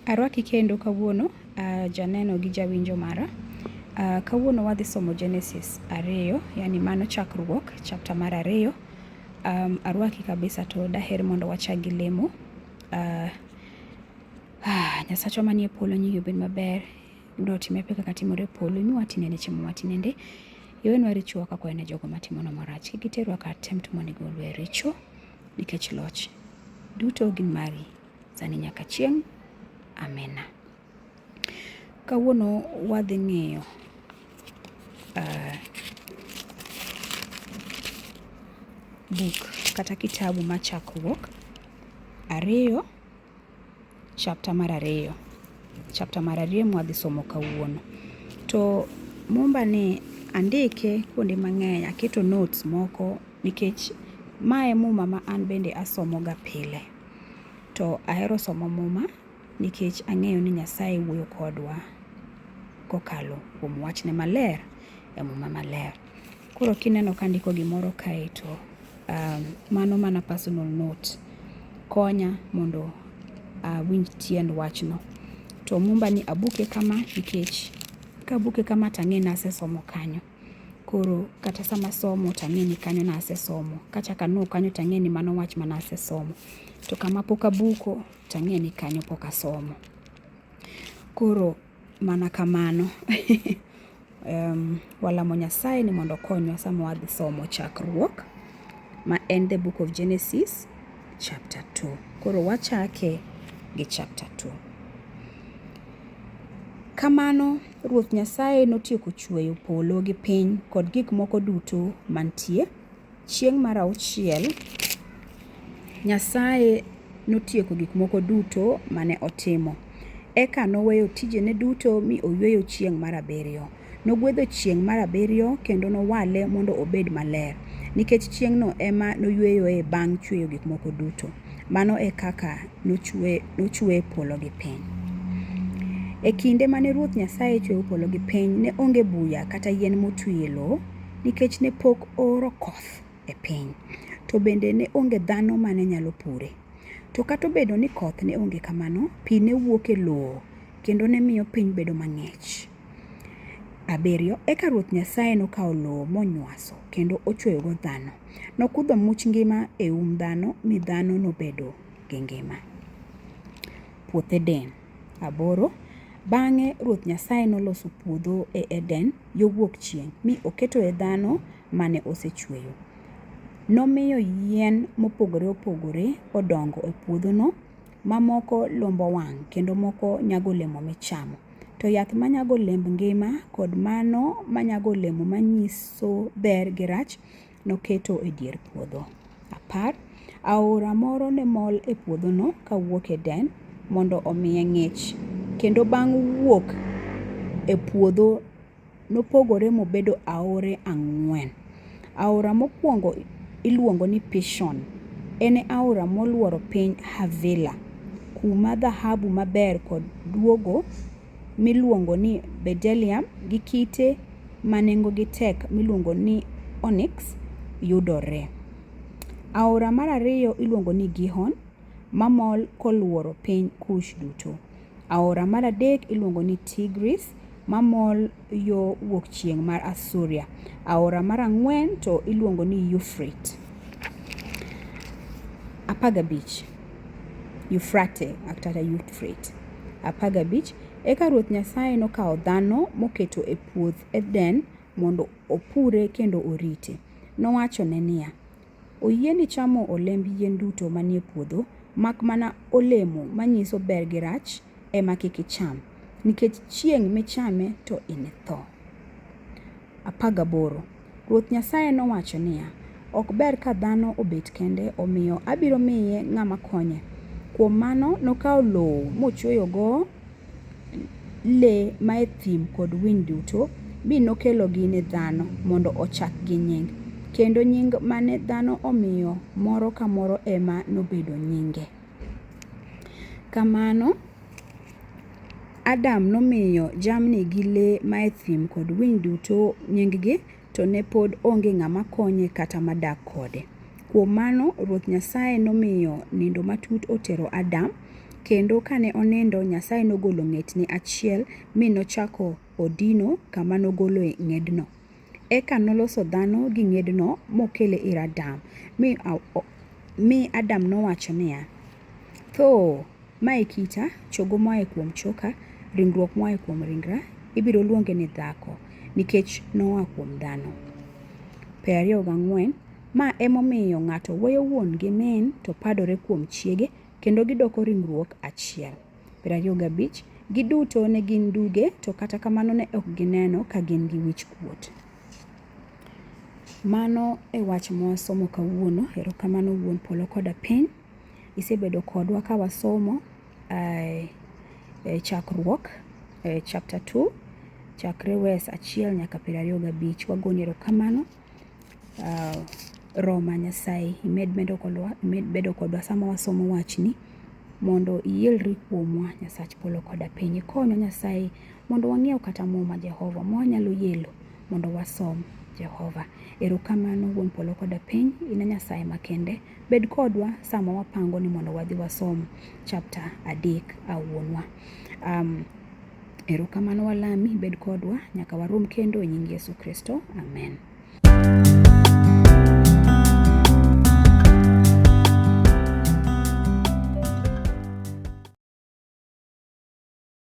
Arwaki kendo kawuono uh, janeno gi jawinjo mara. Uh, kawuono wadhi somo Genesis ariyo, yani mano chakruok, chapter mar ariyo. Um, arwaki kabisa to daher mondo wachak gi lemo. Uh, ah, Nyasachwa manie polo nyingi obed maber. Mondo otime pe kaka timore e polo, imi watinende chiemo matinende. Iwenwa richowa kaka wane jogo matimonwa marach. Kik iterwa kar tem to mondo igolwa e richo, nikech loch duto gin mari, sani nyaka chieng'. Amena. Kawuono wadhi ng'iyo uh, buk kata kitabu ma Chakruok ariyo chapter mar ariyo chapter mar ariyo mwadhi somo kawuono. To Mumba ni andike kuonde mang'eny, aketo notes moko nikech mae Muma ma an bende asomoga pile. To ahero somo Muma nikech ang'eyo ni Nyasaye wuoyo kodwa kokalo kuom wachne maler e Muma maler. Koro kineno ka andiko gimoro kae to um, mano mana personal note konya mondo awinj uh, tiend wachno. To mumba ni abuke kama nikech kabuke kama tang'e ni asesomo kanyo. Koro kata sama somo tang'e ni kanyo na asesomo. Kachak anuo kanyo tang'e ni mano wach mana asesomo. To kama pok abuko tang'e ni kanyo pok asomo. Koro mana kamano. um, walamo Nyasaye ni mondo okonywa sama wadhi somo chakruok ma en the book of Genesis chapter 2. Koro wachake gi chapter 2. Kamano Ruoth Nyasaye notieko chweyo polo gi piny kod gik moko duto mantie. Chieng' mar auchiel, Nyasaye notieko gik moko duto mane otimo. Eka noweyo tijene duto mi oyweyo chieng' mar abiriyo. Nogwedho chieng' mar abiriyo kendo nowale mondo obed maler, nikech chieng'no ema noyweyoe bang' chweyo gik moko duto. Mano e kaka nochwe polo gi piny. E kinde mane Ruoth Nyasaye chweyo polo gi piny, ne onge buya kata yien motwi e lowo, nikech ne pok ooro koth e piny, to bende ne onge dhano ma ne nyalo pure. To kata obedo ni koth ne onge kamano, pi ne wuok e lowo kendo ne miyo piny bedo mang'ich. Abiriyo, eka Ruoth Nyasaye nokawo lowo monywaso kendo ochweyogo dhano. Nokudho much ngima e um dhano mi dhano nobedo gi ngima. Puoth Eden. Aboro, Bang'e Ruoth Nyasaye noloso puodho e Eden yo wuok chieng', mi oketoe dhano mane osechweyo. Nomiyo yien mopogore opogore odongo e puodhono, ma moko lombo wang' kendo moko nyago olemo michamo. To yath ma nyago olemb ngima kod mano ma nyago olemo manyiso ber gi rach noketo e dier puodho. Apar, aora moro ne mol e puodhono kawuok Eden mondo omiye ng'ich, kendo bang' wuok e puodho nopogore mobedo aore ang'wen. Aora mokwongo iluongo ni Pishon. En e aora molworo piny Havila, kuma dhahabu maber kod duogo miluongo ni bedelium gi kite ma nengogi tek miluongo ni onyx yudoree. Aora mar ariyo iluongo ni Gihon mamol kolworo piny Kush duto. Aora mar adek iluongo ni Tigris mamol yo wuok chieng' mar Asuria. Aora mar ang'wen to iluongo ni Yufrate. Apar gabich. Yufrate kata Yufrate. Apar gabich. Eka Ruoth Nyasaye nokawo dhano moketo e puoth Eden mondo opure kendo orite. Nowachone niya, Oyieni chamo olemb yien duto manie puodho, mak mana olemo manyiso ber gi rach ema kik icham, nikech chieng' michame to initho. 18 Ruoth Nyasaye nowacho niya, Ok ber ka dhano obet kende, omiyo abiro miye ng'ama konye. Kuom mano nokawo lowo mochweyogo le mae thim kod winy duto, mi nokelogi ne dhano mondo ochakgi nying. Kendo nying mane dhano omiyo moro ka moro ema nobedo nyinge. Kamano Adam nomiyo jamni gi le mae thim kod winy duto nyinggi. to ne pod onge ng'ama konye kata madak kode. Kuom mano, Ruoth Nyasaye nomiyo nindo matut otero Adam, kendo kane onindo, Nyasaye nogolo ng'etne achiel mi nochako odino kama nogoloe ng'edno. Eka noloso dhano gi ng'edno mokele ir Adam, mi Adam nowacho niya, Thoo! Ma e kita, chogo moa e kuom choka, ringruok moa e kuom ringra, ibiro luonge ni dhako, nikech noa kuom dhano. Per ariyo gang'wen, Ma e momiyo ng'ato weyo wuon gi min to padore kuom chiege, kendo gidoko ringruok achiel. Per ariyo gabich, Giduto ne gin duge, to kata kamano ne ok gineno ka gin gi wich kuot. Mano e wach mwasomo kawuono. Erokamano Wuon Polo koda Piny. Isebedo kodwa ka wasomo eh, eh, chakruok eh, chapter 2 chakre wes achiel nyaka piero ariyo gabich. Wagoni erokamano uh, Roma Nyasaye imed medo kodwa, imed bedo kodwa sama wasomo wachni mondo ielri kuomwa Nyasach polo koda piny. Ikonyo Nyasaye mondo wang'iew kata muma Jehova mwanyalo yelo mondo wasom Jehova. Erokamano wuon polo koda piny, in e Nyasaye makende. Bed kodwa sama wapango ni mondo wadhi wasom chapter adek a wuonwa. Um, erokamano walami, bed kodwa nyaka warom kendo e nying Yesu Kristo. Amen.